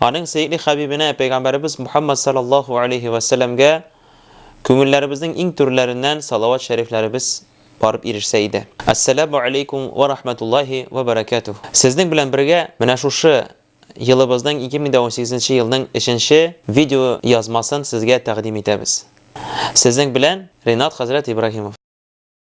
Аның сөекле хәбибенә, пәйгамбәребез Мухаммад саллаллаһу алейһи вә сәлләмгә күңелләребезнең иң түрләреннән салават шәрифләребез барып ирешсә иде. Әссәләмү алейкүм вә рахмәтуллаһи вә бәрәкәтүһ. Сезнең белән бергә менә шушы елыбызның 2018 нче елның өченче видео язмасын сезгә тәкъдим итәбез. Сезнең белән Ринат хәзрәт Ибраһимов.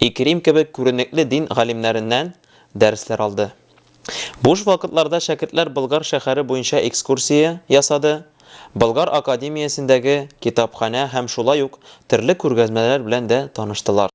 Икрим кебек күренекле дин галимнәреннән дәресләр алды. Буш вакытларда шәкертләр Болгар шәһәре буенча экскурсия ясады, Болгар академиясендәге китапханә һәм шулай ук төрле күргәзмәләр белән дә таныштылар.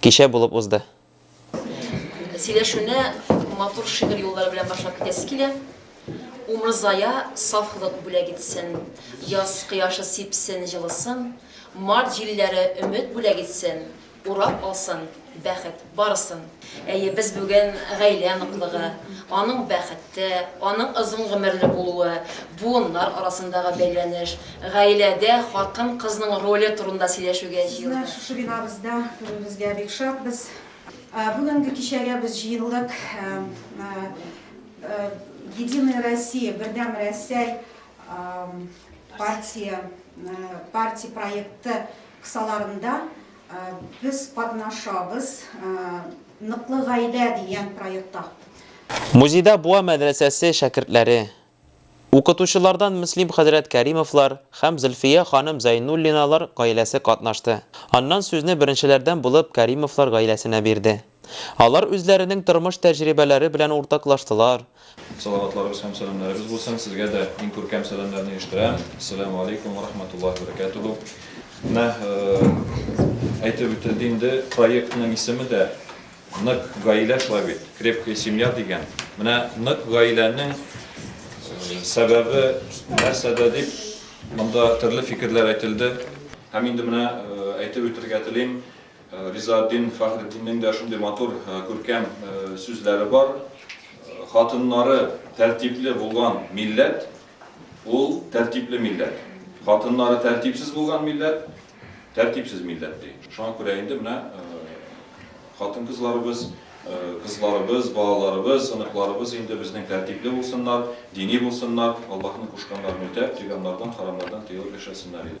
Кичә булып узды. Сөйләшүне матур шигырь юллары белән башлап китәсе килә. Умырзая сафлык бүләк итсен, Яз кояшы сипсен җылысын, Март җилләре өмет бүләк итсен, Урап алсын бәхет барысын. Әйе, без бүген гаилә ныклыгы, аның бәхете, аның озын гомерле булуы, буыннар арасындагы бәйләнеш, гаиләдә хатын-кызның роле турында сөйләшүгә җыелдык. Сезне шушы бинабызда күрүебезгә бик шатбыз. Бүгенге кичәгә без җыелдык Единая Россия, Бердәм Рәсәй партия проекты кысаларында. Без катнашабыз Ныклы гаилә дигән проектта. Музейда Буа мәдрәсәсе шәкертләре, укытучылардан Мөслим хәзрәт Кәримовлар һәм Зөлфия ханым Зәйнуллиналар гаиләсе катнашты. Аннан сүзне беренчеләрдән булып Кәримовлар гаиләсенә бирде. Алар үзләренең тормыш тәҗрибәләре белән уртаклаштылар. Салаватларыбыз һәм сәламнәребез булсын, сезгә дә иң күркәм сәламнәрне ирештерәм. Әссәләмү алейкум вә рахмәтуллаһи вә бәрәкәтүһү. Менә әйтеп үтелде инде, проектның исеме дә Нык гаилә шулай бит, Крепкая семья дигән. Менә нык гаиләнең сәбәбе нәрсәдә дип, монда төрле фикерләр әйтелде. Һәм инде менә әйтеп үтергә телим. Ризаэтдин Фәхретдиннең дә шундый матур, күркәм сүзләре бар, Хатыннары тәртипле булган милләт, ул тәртипле милләт. Хатыннары тәртипсез булган милләт, тәртипсез милләт, ди. Шуңа күрә инде менә хатын-кызларыбыз, кызларыбыз, балаларыбыз, оныкларыбыз инде безнең тәртипле булсыннар, дини булсыннар, Аллаһның кушканнарын үтәп, тыйганнардан, харамнардан тыелып яшәсеннәр иде.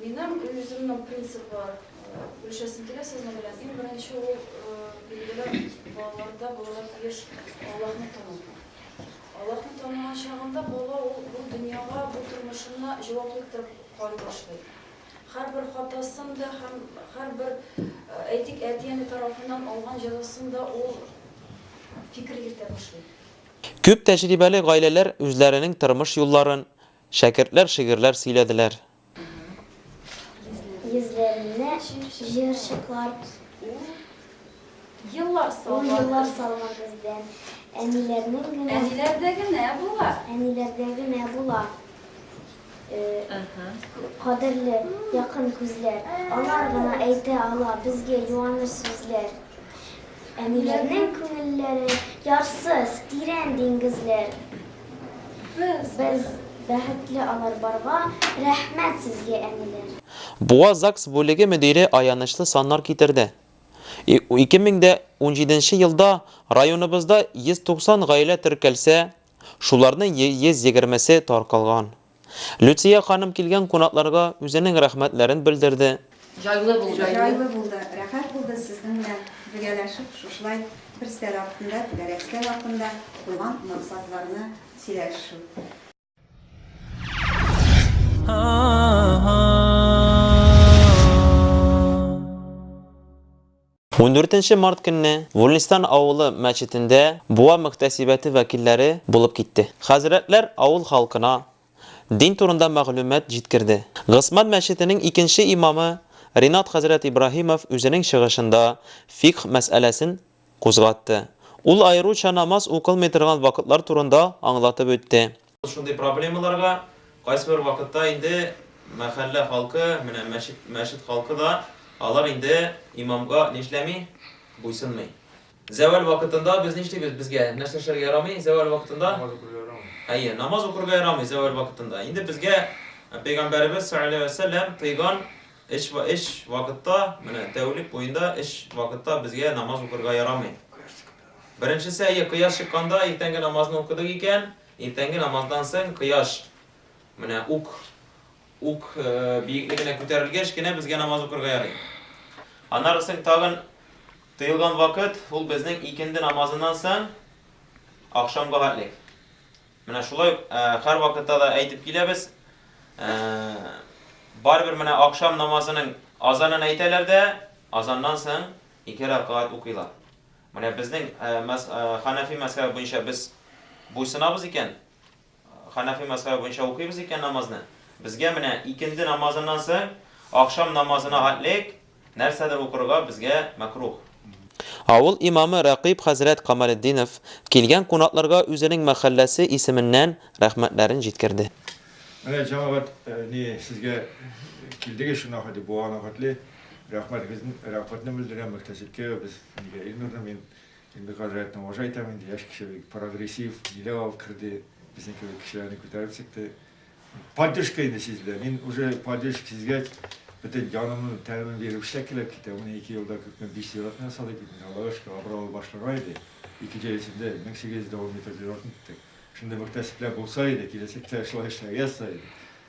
Минем үземнең принцип бар. Бүлешәсем килә сезнең белән. Иң беренче ул билгеле балаларда булырга тиеш Аллаһны тану. Аллаһны танымаган чагында бала ул бу дөньяга, бу тормышына җаваплы итеп карый башлый. Һәрбер хатасын да һәм һәрбер, әйтик, әти-әни тарафыннан алган җәзасын да ул фикер йөртә башлый. Күп тәҗрибәле гаиләләр үзләренең тормыш юлларын, Шәкертләр шигырьләр сөйләделәр. Йөзләренә җыерчыклар Еллар салган бездән. Әниләрнең генә. Әниләрдә генә була. Әниләрдә генә була. Кадерле, якын күзләр. Алар гына әйтә ала безгә юаныч сүзләр. Әниләрнең күңелләре ярсыз, тирән диңгезләр. Без бәхетле алар барга рәхмәт сезгә әниләр. Буа ЗАГС бүлеге мөдире аянычлы саннар китерде. Ике мең дә унҗиденче елда районыбызда 190 гаилә теркәлсә, шуларның 120 се таркалган. Люция ханым килгән кунакларга үзенең рәхмәтләрен белдерде. Җайлы булды. Җайлы булды, рәхәт булды сезнең белән бергәләшеп шушылай бер стәр артында, түгәрәк стәр артында куйган максатларны сөйләшү. Ундүртенче март көнне Вульнистан авылы мәчетендә Буа мөхтәсибәте вәкилләре булып китте. Хәзрәтләр авыл халкына дин турында мәгълүмат җиткерде. Госман мәчетенең икенче имамы Ринат хәзрәт Ибраһимов үзенең чыгышында фикһ мәсьәләсен кузгатты. Ул аеруча намаз укылмый торган вакытлар турында аңлатып үтте. Шундый проблемаларга кайсыбер вакытта инде мәхәллә халкы, менә мәчет, мәчет халкы да, алар инде имамга нишләми? Буйсынмый. Зәвәл вакытында без нишлибез? Безгә нәрсә эшләргә ярамый зәвәл вакытында? Намаз укырга ярамый. Әйе, намаз укырга ярамый зәвәл вакытында. Инде безгә Пәйгамбәребез саллаллаһу алейһи ва сәлләм тыйган эш ва эш вакытта, менә тәүлек буенда эш вакытта безгә намаз укырга ярамый. Беренчесе, әйе, кояш чыкканда иртәнге намазны укыдык икән, иртәнге намаздан соң кояш менә ук ук биеклегенә күтәрелгәч кенә безгә намаз укырга ярый. Аннары соң тагын тыелган вакыт ул безнең икенде намазыннан соң ахшамга хәтлек. Менә шулай һәр вакытта да әйтеп киләбез. Барыбер менә ахшам намазының азанын әйтәләр дә, азаннан соң ике рәкәгать укыйлар. Менә безнең мәз Хәнәфи мәзхәбе буенча без буйсынабыз икән, Хәнәфи мәзхәбе буенча укыйбыз икән намазны, безгә менә икенде намазыннан соң ахшам намазына атлек нәрсәдер укырга безгә мәкруһ. Авыл имамы Рәкыйп хәзрәт Камалетдинов килгән кунакларга үзенең мәхәлләсе исеменнән рәхмәтләрен җиткерде. Менә җәмәгать ни сезгә килдегез шуңа хәтле, бу ана хәтле. Рәхмәт безнең рәхмәтне белдерәм мөхтәсибкә без нигә Илнурны мин Илнур хәзрәтне уважать итәм инде яшь кеше бик прогрессив ниләр алып керде безнең кебек кешеләрне күтәреп чыкты поддержка инде сизелә мин уже поддержка сизгәч бөтен җанымның тәмен биреп эшләп килеп китә менә ике елда күпме биш зиратны ясадык бит менә аллага шөкер абруйлы башлана иде ике җәй эчендә мең сигез йөз дә ун метр зиратны иттек шундый мөхтәсибләр булса иде киләчәктә шулай эшләргә язса иде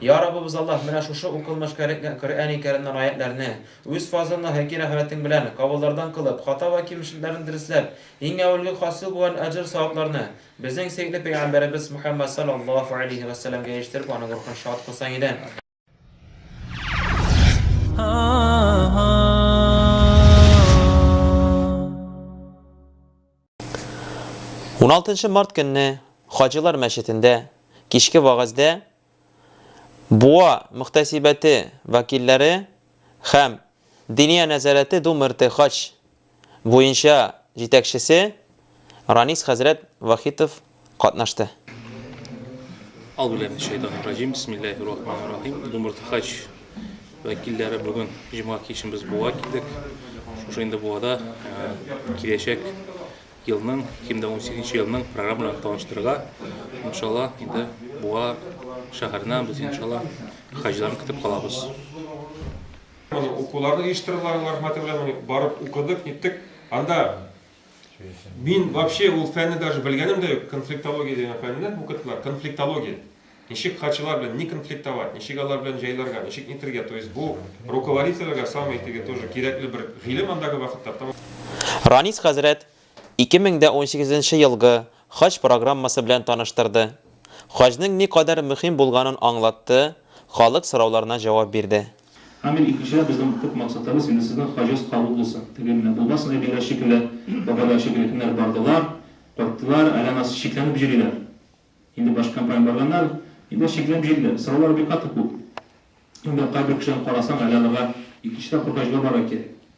Йа Раббыбыз Аллаһ, менә шушы укылмыш кәрекгән Коръәни Кәримнән аятьләрне, үз фазылны һәки рәхмәтең белән, кавыллардан кылып, хата вә кимчелекләрне дөресләп, иң әүвәлге хасил булган әҗер-савапларны безнең сөекле пәйгамбәребез Мөхәммәд салләллаһу галәйһи вә сәлләмгә ирештереп аның рухын шат кылсаң иде. 16 март көнне Хаҗилар мәчетендә кичке вәгазьдә Буа мөхтәсибәте вәкилләре һәм Диния нәзарәте Думерте хаҗ буенча җитәкчесе Ранис хәзрәт Вахитов катнашты. Аузубиллахиминашшайтанирраҗим, бисмиллаһиррахманиррахим. Думыртыхач вәкилләре бүген җомга кичен без Буа килдек. Шушы инде Буада киләчәк елның, 2018 нче елның программаларын таныштырырга, иншалла, инде Буа шәһәренә без иншалла хаҗиларны көтеп калабыз. Укуларны оештырдылар, алар хөрмәте белән барып укыдык, ниттек. Анда Мин вообще ул фәнне даже белгәнем дә юк, конфликтология дигән фәнне укыттылар, конфликтология. Ничек хачылар белән не конфликтовать, ничек алар белән җайларга, ничек нитергә, то есть бу руководительләргә самый теге тоже кирәкле бер гыйлем андагы вакытта. Ранис хәзрәт 2018 елгы хаҗ программасы белән таныштырды, хаҗның никадәр мөһим булганын аңлатты, халык сорауларына җавап бирде. Амин икенчедән безнең төп максатыбыз инде сезнең хаҗәс кабул булсын, теге менә булмасын әбиләр шикелле, бабайлар шикелле кемнәр бардылар, кайттылар, әле анасы шикләнеп җөриләр. Инде башка компания барганнар, инде шикләнеп җөриләр, сораулар бик каты күп. Инде кайбер кешеләрне карасаң әле аларга икенче тапкыр хаҗга барырга кирәк.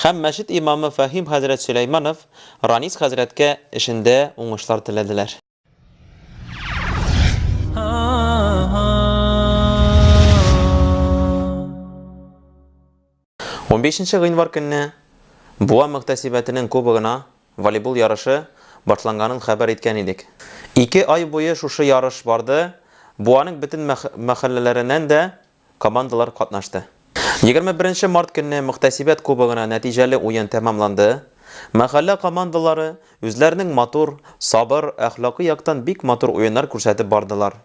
Һәм мәчет имамы Фәһим хәзрәт Сөләйманов Ранис хәзрәткә эшендә уңышлар теләделәр. Унбишенче гыйнвар көнне Буа мөхтәсибәтенең кубогына волейбол ярышы башланганын хәбәр иткән идек. Ике ай буе шушы ярыш барды, Буаның бөтен мәхәлләләреннән дә командалар катнашты. Егерме беренче март көнне Мөхтәсибәт кубогына нәтиҗәле уен тәмамланды. Мәхәллә командалары үзләренең матур, сабыр, әхлакый яктан бик матур уеннар күрсәтеп бардылар.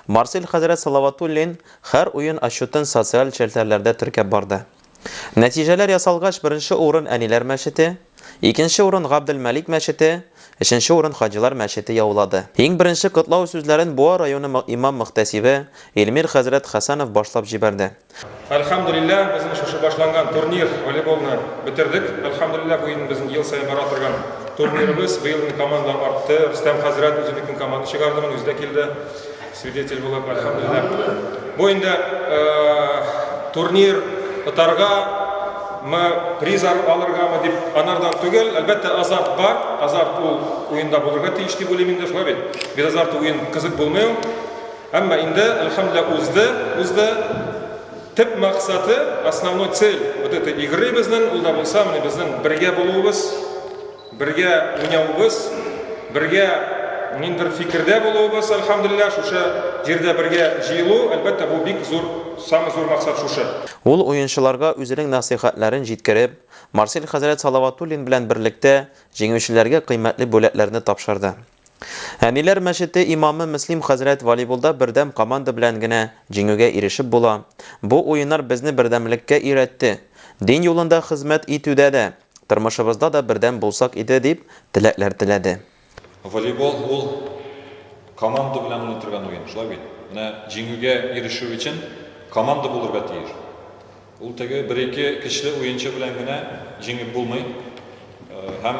Марсель хәзрәт Салаватуллин һәр уен отчетын социаль челтәрләрдә теркәп барды. Нәтиҗәләр ясалгач, беренче урын Әниләр мәчете, икенче урын Габделмәлик мәчете, өченче урын Хаҗилар мәчете яулады. Иң беренче котлау сүзләрен Буа районы имам-мөхтәсибе Илмир хәзрәт Хәсәнов башлап җибәрде. Әлхәмдүлилләһ, безнең шушы башланган турнир, волейболны бетердек. Әлхәмдүлилләһ, бу инде безнең ел саен бара торган турнирыбыз. Быел инде командалар артты. Рөстәм хәзрәт үзенекен команда чыгарды, моны үзе дә килде. Свидетель булып, әлхәмдүлилләһ. Бу инде турнир отарга мы призар алыргамы дип анардан түгел, әлбәттә азарт бар, азарт ул уенда булырга тиеш дип уйлыйм инде, шулай бит. Без азарт уен кызык булмый ул. Әмма инде әлхәмдүлилләһ узды, узды. Төп максаты, основной цель вот этой игры безнең, ул да булса, менә безнең бергә булуыбыз, Бергә уйнавыбыз, бергә ниндидер фикердә булуыбыз, әлхәмдүлилләһ, шушы җирдә бергә җыелу, әлбәттә, бу бик зур, самый зур максат шушы. Ул уенчыларга үзенең нәсыйхәтләрен җиткереп, Марсель хәзрәт Салаватуллин белән берлектә җиңүчеләргә кыйммәтле бүләкләрне тапшырды. Әниләр мәчете имамы Мөслим хәзрәт волейболда бердәм команда белән генә җиңүгә ирешеп була. Бу уеннар безне бердәмлеккә өйрәтте. Дин юлында хезмәт итүдә дә, тормышыбызда да бердәм булсак иде, дип теләкләр теләде. Волейбол ул команда белән уйнатырган уен, шулай бит? Менә җиңүгә ирешү өчен команда булырга тиеш. Ул теге бер-ике көчле уенчы белән генә җиңеп булмый. Һәм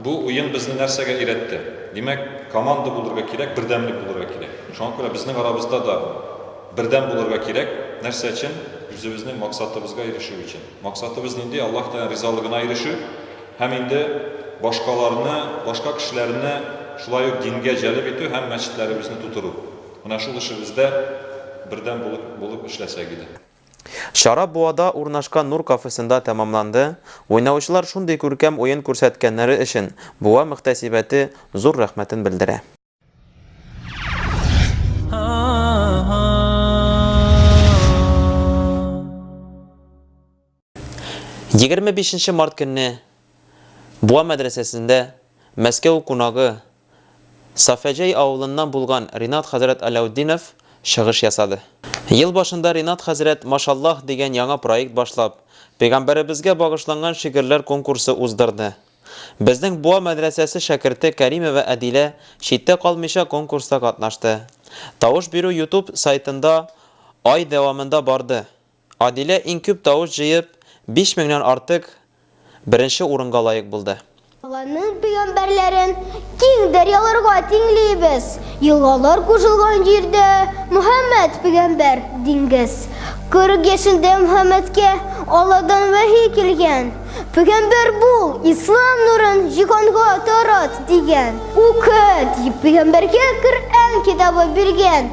бу уен безне нәрсәгә өйрәтте? Димәк, команда булырга кирәк, бердәмлек булырга кирәк. Шуңа күрә безнең арабызда да бердәм булырга кирәк. Нәрсә өчен? Үзебезнең максатыбызга ирешү өчен. Максатыбыз нинди? Аллаһ Тәгаләнең ризалыгына ирешү һәм инде башкаларны, башка кешеләрне шулай ук дингә җәлеп итү һәм мәчетләребезне тутыру. Менә шул эшебездә бердәм булып булып эшләсәк иде. Чара Буада урнашкан Нур кафесында тәмамланды. Уйнаучылар шундый күркәм уен күрсәткәннәре өчен Буа мөхтәсибәте зур рәхмәтен белдерә. Егерме бишенче март көнне Буа мәдрәсәсендә Мәскәү кунагы Сафәҗәй авылыннан булган Ринат хәзрәт Аляутдинов чыгыш ясады. Ел башында Ринат хәзрәт Машаллаһ дигән яңа проект башлап, Пәйгамбәребезгә багышланган шигырьләр конкурсы уздырды. Безнең Буа мәдрәсәсе шәкерте Кәримова Әдилә читтә калмыйча конкурста катнашты. Тавыш бирү Ютуб сайтында ай дәвамында барды. Адилә иң күп тавыш җыеп, биш меңнән артык, беренче урынга лаек булды. Алланың пәйгамбәрләрен киң дәрьяларга тиңлибез, елгалар кушылган җирдә Мөхәммәд пәйгамбәр, диңгез. Кырык яшендә Мөхәммәдкә Алладан вәхи килгән, Пәйгамбәр бул, ислам нурын җиһанга тарат, дигән. Укы, дип пәйгамбәргә Коръән китабы биргән.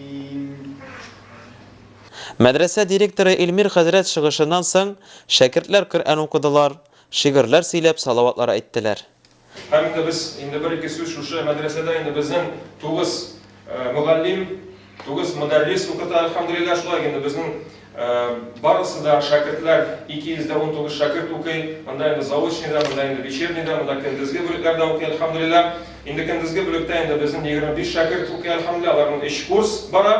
Мәдрәсә директоры Илмир хәзрәт чыгышыннан соң шәкертләр Коръән укыдылар, шигырьләр сөйләп, салаватлар әйттеләр. Һәм дә без инде бер-ике сүз шушы мәдрәсәдә инде безнең тугыз мөгаллим, тугыз мөдәррис укыта, әлхәмдүлилләһ, шулай инде безнең. Барысы да шәкертләр, 219 шәкерт укый. Монда инде заочный да, монда инде вечерний да, монда көндезге бүлекләр дә укый, әлхәмдүлиллә. Инде көндезге бүлектә инде безнең 25 шәкерт укый, әлхәмдүлиллә, аларның 3 курс бара.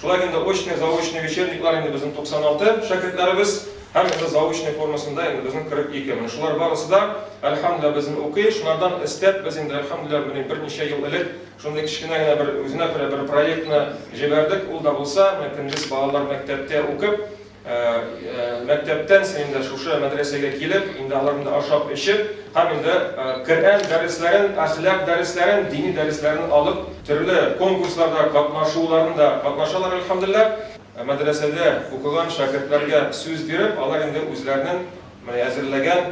Шулай инде очный, заочный, вечерниклар инде безнең 96 шәкертләребез һәм инде заочный формасында инде безнең 42. Менә шулар барысы да, әлхәмдүлиллә, безнең укый. Шулардан өстәп, без инде, әлхәмдүлиллә, менә берничә ел элек Шундый кечкенә генә бер үзенә күрә бер проектны җибәрдек, ул да булса, менә көндез балалар мәктәптә укып, мәктәптән соң инде шушы мәдрәсәгә килеп, инде алар инде ашап-эчеп һәм инде Коръән дәресләрен, әхлак дәресләрен, дини дәресләрен алып, төрле конкурсларда катнашуларында катнашалар, әлхәмдүлилләһ. Мәдрәсәдә укыган шәкертләргә сүз биреп, алар инде үзләренең әзерләгән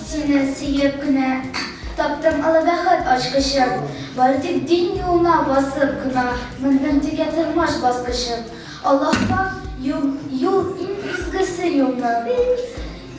Сине сөеп кенә таптым олы бәхет ачкычын, Бары тик дин юлына басып кына мендем текә тормыш баскычын. Аллаһтан юл иң изгесе юлның,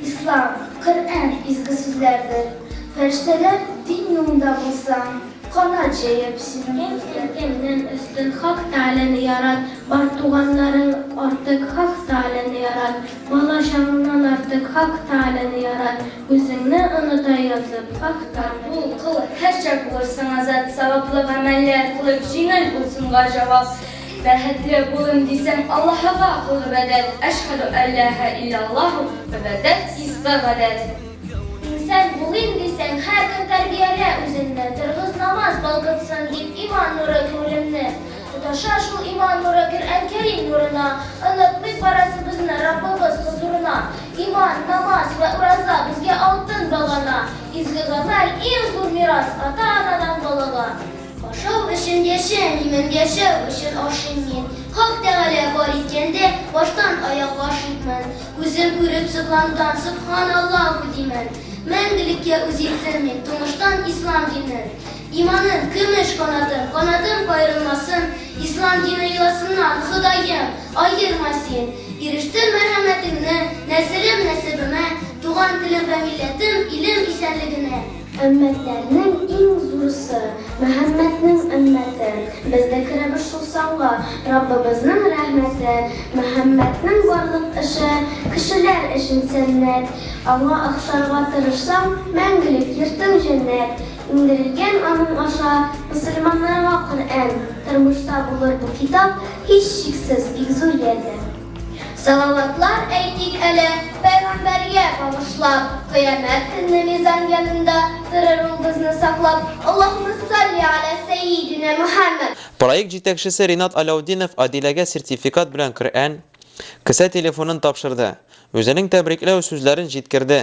Ислам, Коръән изге сүзләрдер. Фәрештәләр дин юлында булсаң, канат җәеп син үтәрләр. Кем кемнән өстен, Хак Тәгаләне ярат, Бар туганнарың артык, Хак Тәгаләне ярат. Балачагыңнан артык Хак Тааляны ярат, үзеңне оныта язып, Хак Та. Кабул кыл, һәрчак булырсың азат, Саваплы гамәлләр кылып, җиңел булсын га җавап. Бәхетле булыйм дисәң, Аллаһыга кыл гыйбадәт, Әшһадү әлләһә илләллаһу, гыйбадәт, иске гадәт. Инсан булыйм дисәң, һәр көн тәрбиялә үзеңне, Торгыз намаз балкытсын дип, иман нуры күңелемне. Тоташа шул иман нуры Коръән Кәрим нурына, Онытмыйк барасыбызны Раббыбыз хозурына. Иман, намаз вә ураза Безгә алтын багана, Изге гамәл, иң зур мирас Ата-анадан балага. Ашау өчен яшим, имин, Яшәү өчен ашыйм мин. Хак Тәгалә бар иткәндә, Баштан аяк гашыйкмын. Күзем күреп сокланган, Сөбханаллаһу димин. Мәңгелеккә үз илтим мин, Тумыштан ислам динен. Иманын, көмеш канатын, Канатым каерылмасын, Ислам дине йоласыннан, Ходаем, аерма Син. Ирештем мәрхәмәтеңне, Нәселем, нәсебемә, Туган телем вә милләтем, Илем исәнлегенә. Өммәтләрнең иң зурысы, Мөхәммәднең өммәте, Без дә керәбез шул санга, Раббыбызның рәхмәте. Мөхәммәднең барлык эше, Кешеләр өчен сәннәт, Аңа охшарга тырышсаң, Мәңгелек йортың җәннәт. Иңдерелгән аның аша мөселманнарга Коръән, тормышта булыр бу китап, һичшиксез, бик зур ярдәм. Салаватлар әйтик әле Пәйгамбәргә багышлап, Кыямәт көнне мизан янында торыр ул бозны саклап, Аллаһума салли ала сәйидинә Мөхәммәд. Проект җитәкчесе Ринат Аляутдинов Адиләгә сертификат белән Коръән, кесә телефонын тапшырды, үзенең тәбрикләү сүзләрен җиткерде,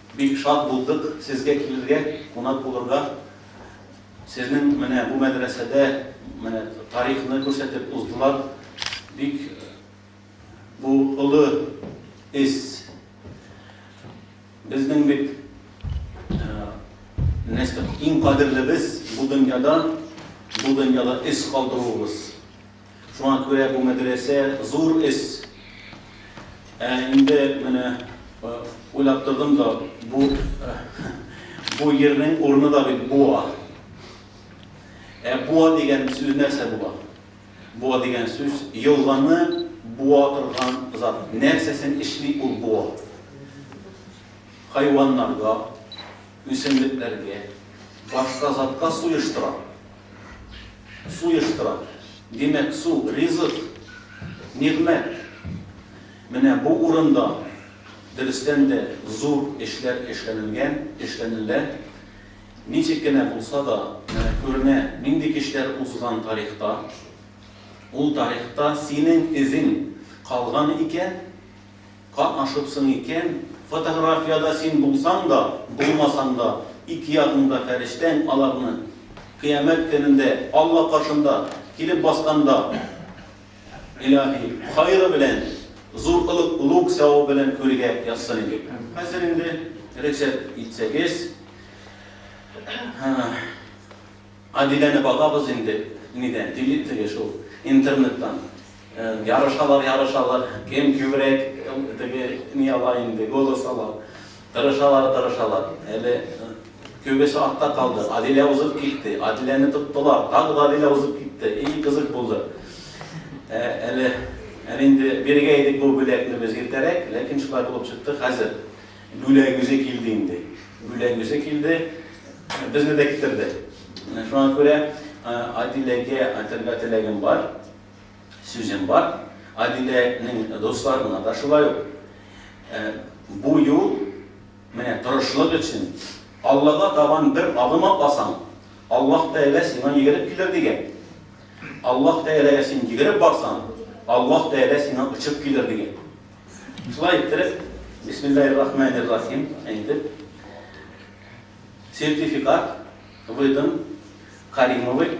Бик шат булдык сезгә килергә, кунак булырга. Сезнең менә бу мәдрәсәдә менә тарихны күрсәтеп уздылар. Бик бу олы эз. Безнең бит нәстык иң кадерлебез бу дөньяда, бу дөньяда эз калдыруыбыз. Шуңа күрә бу мәдрәсә зур эш. Ә инде менә уйлап тордым да, бу бу йирнең урыны да бит Буа. Ә Буа дигән сүз нәрсә була? Буа дигән сүз елганы буа торган зат. Нәрсәсен эшли ул буа? Хайваннарга. Үсемлекләргә, башка затка суештыра. Суештыра. Димәк, су, ризык, нигъмәт. Менә бу урында, дөрестән дә, зур эшләр эшләнелгән, эшләнелә. Ничек кенә булса да, менә күренә, нинди кичләр узган тарихта. Ул тарихта синең эзең калган икән. Катнашыпсың икән, фотографиядә син булсаң да, булмасаң да, ике ягыңда фәрештәң аларны Кыямәт көнендә Алла каршында килеп басканда, Илаһи, хайры белән, зур олуг олуг савабы белән күлгә язсын иде. Хәзер инде рөхсәт итсәгез, Адиләне багабыз инде, нидән, теле, теге шул, интернеттан. Ярышалар, ярышалар, кем күбрәк теге ни ала инде, голос ала. Тырышалар, тырышалар. Әле күбесе артта калды. Адилә узып китте. Адиләне тоттылар. Тагы да Адилә узып китте. И кызык булды. Ә, әле әле инде биргә идек бу бүләкне без иртәрәк, ләкин шулай булып чыкты. Хәзер бүләк үзе килде инде. Бүләк үзе килде. Безне дә китерде. Шуңа күрә Адиләгә әйтергә теләгем бар. Сүзем бар, Адиләнең дусларына да шулай ук. Бу юл, менә тырышлык өчен, Аллага табан бер адым атасаң, Аллаһ Тәгалә сиңа йөгереп килер, дигән. Аллаһ Тәгаләгә син йөгереп барсаң, Аллаһ Тәгалә сиңа очып килер, дигән. Шулай иттереп, Бисмиллаһир-рахманир-рахим әйтеп, сертификат выдан Каримовой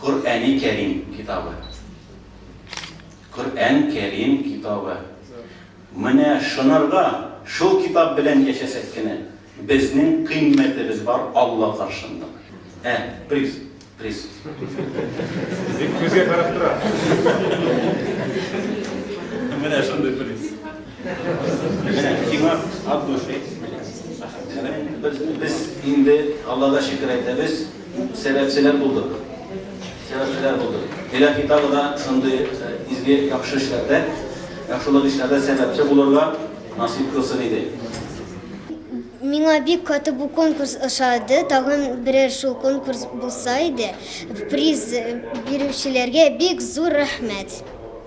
Коръәни Кәрим китабы. Коръән Кәрим китабы. Менә шынырга, шул китап белән яшәсәк кенә, безнең кыйммәтебез бар Алла каршында. Ә, приз, приз. Бик күзгә карап тора. Менә шундый приз. Менә сиңа от души. Без инде Аллага шөкер әйтәбез. Сәбәпчеләр булдык. Сәбәпчеләр булдык. Илаһи тагы да шундый изге яхшы эшләрдә, яхшылык эшләрдә сәбәпче булырга насыйп кылсын иде. Миңа бик каты бу конкурс ошады. Тагын берәр шул конкурс булса иде. Приз бирүчеләргә бик зур рәхмәт.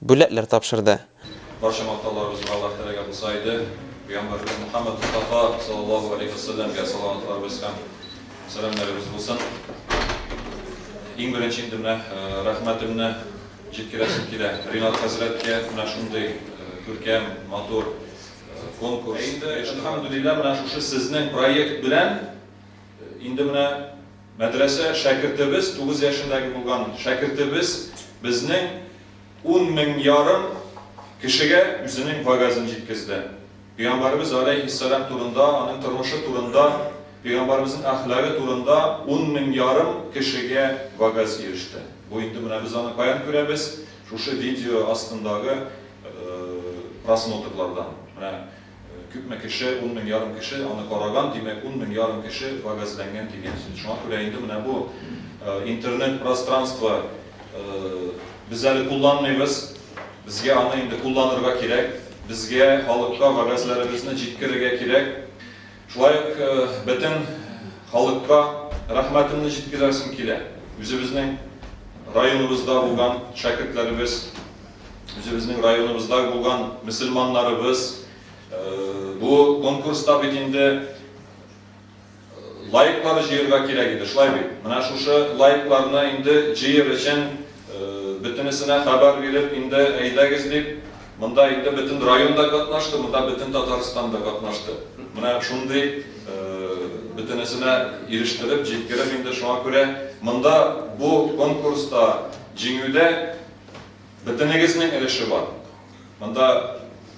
бүләкләр тапшырды. Барча мактауларыбызга Аллаһ теләгән булса иде, пәйгамбәребез Мөхәммәд Мостафа саллаллаһу галәйһи ва сәлләмгә салаватларыбыз һәм сәламнәребез булсын. Иң беренче инде менә рәхмәтемне җиткерәсем килә Ринат хәзрәткә, менә шундый күркәм, матур конкурс. Инде, әлхәмдүлилләһ, менә шушы сезнең проект белән инде менә. Мәдрәсә шәкертебез тугыз яшендәге булган шәкертебез безнең ун мең ярым кешегә үзенең вагазен җиткезде. Пәйгамбәребез галәйһиссәлам турында, аның тормышы турында, пәйгамбәребезнең әхлагы турында ун мең ярым кешегә вагаз иреште. Бу инде менә без аны каян күрәбез, шушы видео астындагы просмотрлардан. Менә. Күпме кеше, ун мең ярым кеше аны караган, димәк, ун мең ярым кеше вәгазьләнгән дигән сүз. Шуңа күрә инде менә бу интернет пространство без әле кулланмыйбыз, безгә аны инде кулланырга кирәк, безгә халыкка вәгазьләребезне җиткерергә кирәк. Шулай ук бөтен халыкка рәхмәтемне җиткерәсем килә, үзебезнең районыбызда булган шәкертләребез, үзебезнең районыбызда булган мөселманнарыбыз бу конкурста бит инде лайклар җыерга кирәк иде, шулай бит? Менә шушы лайкларны инде җыер өчен бөтенесенә хәбәр биреп, инде әйдәгез дип, монда инде бөтен район да катнашты, монда бөтен Татарстан да катнашты. Менә шундый бөтенесенә ирештереп, җиткереп инде шуңа күрә монда бу конкурста җиңүдә Бөтенегезнең өлеше бар. Монда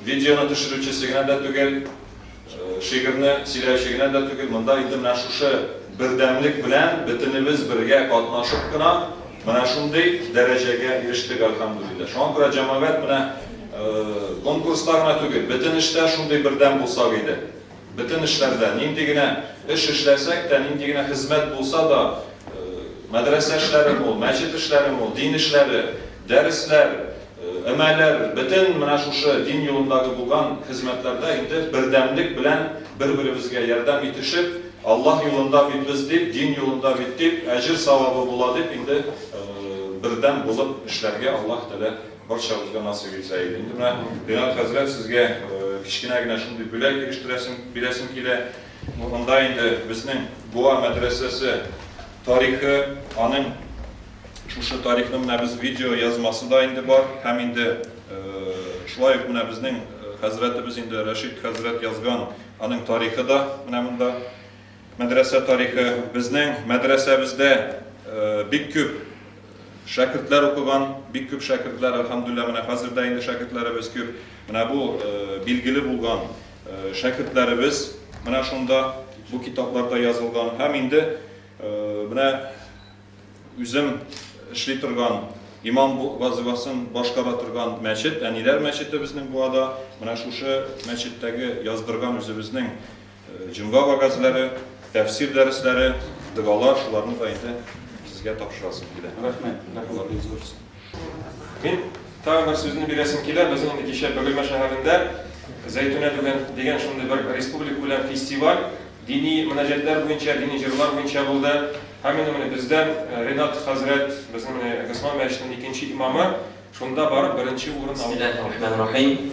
видеоны төшерүчесе генә дә түгел, шигырьне сөйләүче генә дә түгел, монда инде менә шушы бердәмлек белән бөтенебез бергә катнашып кына менә шундый дәрәҗәгә ирештек, әлхәмдүлилләһ. Шуңа күрә җәмәгать менә конкурста гына түгел, бөтен эштә шундый бердәм булсак иде. Бөтен эшләрдә, нинди генә эш эшләсәк тә, нинди генә хезмәт булса да, мәдрәсә эшләре мул, мәчет эшләре мул, дин эшләре, дәресләр, өмәләр, бөтен менә шушы дин юлындагы булган хезмәтләрдә инде бердәмлек белән бер-беребезгә ярдәм итешеп, Аллаһ юлында бит без дип, дин юлында бит дип, әҗер-савабы була дип инде бердәм булып эшләргә Аллаһ Тәгалә Барчабызга насыйп итсә иде. Инде менә Ринат хәзрәт сезгә кечкенә генә шундый бүләк ирештерәсем, бирәсем килә. Монда инде безнең Буа мәдрәсәсе тарихы, аның шушы тарихның менә без видео язмасы да инде бар һәм инде шулай ук менә безнең хәзрәтебез инде Рәшит хәзрәт язган аның тарихы да менә монда. Мәдрәсә тарихы, безнең мәдрәсәбездә бик күп шәкертләр укыган, бик күп шәкертләр, әлхәмдүлилләһ, менә хәзер дә инде шәкертләребез күп. Менә бу билгеле булган шәкертләребез менә шунда, бу китапларда язылган. Һәм инде менә үзем эшли торган имам вазифасын башкара торган мәчет, әниләр мәчете безнең Буада, менә шушы мәчеттәге яздырган үзебезнең Җомга вәгазьләре, тәфсир дәресләре, догалар, шуларны да инде сезгә тапшырасым килә. Рәхмәт, рәхмәт бик зур. Мин тагын бер сүзне бирәсем килә. Безнең инде кичә Бөгелмә шәһәрендә Зәйтүнә дигән, дигән шундый бер республика күләм фестиваль, дини мөнәҗәтләр буенча, дини җырлар буенча булды. Һәм инде менә бездән э, Ренат хәзрәт, безнең менә Госман мәчетенең икенче имамы, шунда барып беренче урын алды. Бисмиллахи рахманир рахим.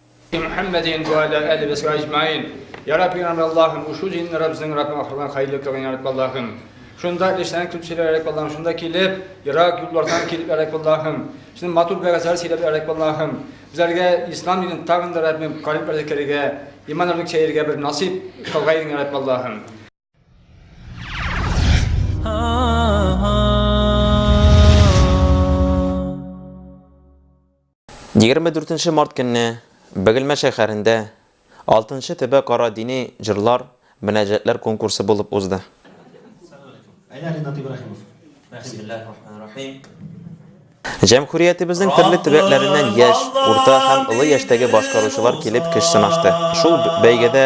Мухаммадин ва аля али ва саби аҗмаин. Я Рабби, я Аллаһым, ушу динне Раббызның Раббы ахырдан хәерле кылган я Рабби Аллаһым. Шунда эшләнеп килеп сөйләр Рабби Аллаһым, шунда килеп, ерак юллардан килеп я Рабби Аллаһым. Син матур бәгазләр сөйләп я Рабби Аллаһым. Безләргә ислам динен тагын да Раббим карим әзекәргә, иман алып чәергә бер насыйп кылгай дин я Рабби Аллаһым. Егерме дүртенче март көнне Бөгелмә шәһәрендә алтынчы төбә кара дини җырлар, мөнәҗәтләр конкурсы булып узды. Җәмһүриятебезнең төрле төбәкләреннән яшь, урта һәм олы яшьтәге башкаручылар килеп көч сынашты. Шул бәйгедә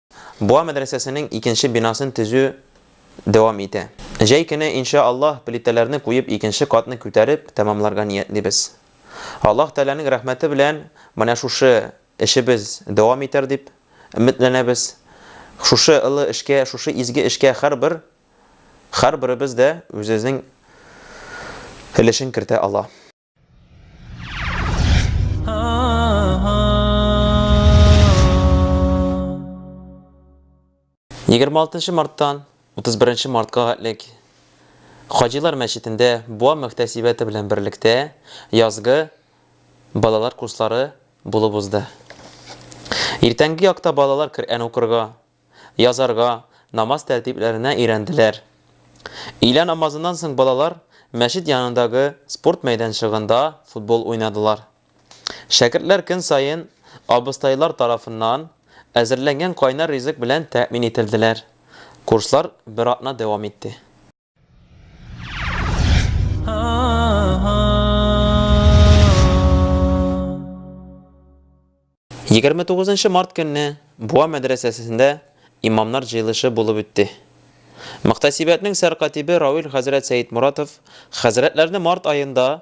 Буа мәдрәсәсенең икенче бинасын төзү дәвам итә. Җәй көне, инша Аллаһ, плитәләрне куеп икенче катны күтәреп тәмамларга ниятлибез. Аллаһ Тәгаләнең рәхмәте белән менә шушы эшебез дәвам итәр дип өметләнәбез. Шушы олы эшкә, шушы изге эшкә һәрбер, һәрберебез дә үзенең өлешен кертә ала. Егерме алтынчы марттан 31 мартка хәтлек Хаҗилар мәчетендә Буа мөхтәсибәте белән берлектә язгы балалар курслары булып узды. Иртәнге якта балалар Коръән укырга, язарга, намаз тәртипләренә өйрәнделәр. Өйлә намазыннан соң балалар мәчет янындагы спорт мәйданчыгында футбол уйнадылар. Шәкертләр көн саен абыстайлар тарафыннан әзерләнгән кайнар ризык белән тәэмин ителделәр. Курслар бер атна дәвам итте. Егерме тугызынчы март көнне Буа мәдрәсәсендә имамнар җыелышы булып үтте. Мөхтәсибәтнең сәркатибе Рауил хәзрәт Сәйдмуратов хәзрәтләрне март аенда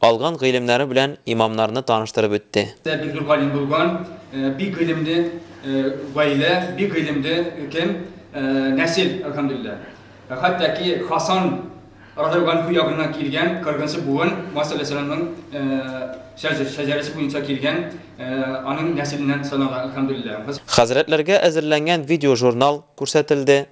Алган гыйлемнәре белән имамнарны таныштырып үтте. Бик зур галим булган, бик гыйлемле гаилә, бик гыйлемле кем? Нәсел, әлхәмдүлилләһ. Хәтта ки Хасан радиаллаһуанһу ягыннан килгән кыргынчы буын Муса галәйһиссәламнең шәҗәрәсе буенча килгән, аның нәселеннән санала, әлхәмдүлилләһ. Хәзрәтләргә әзерләнгән видеожурнал күрсәтелде.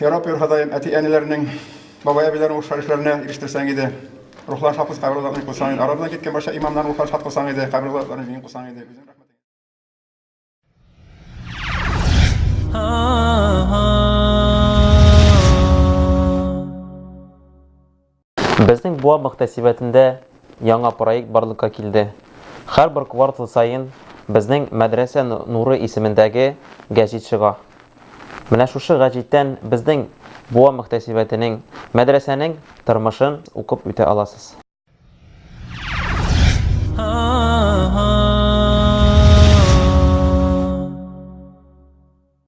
Ярап йөр Ходаем, әти-әниләрнең, бабай-әбиләрнең рухлар яшьләренә ирештерсәң иде. Рухларын шат кылсын, кабер азапларын кылсаң иде. Арадан киткән барча имамнарның рухларын шат кылсаң иде, кабер азапларын җиңел кылсаң иде. Үзең рәхмәт Безнең Буа мөхтәсибәтендә яңа проект барлыкка килде. Һәрбер квартал саен безнең Мәдрәсә нуры исемендәге гәҗит чыга. Менә шушы гәҗиттән безнең Буа мөхтәсибәтенең, мәдрәсәнең тормышын укып үтә аласыз.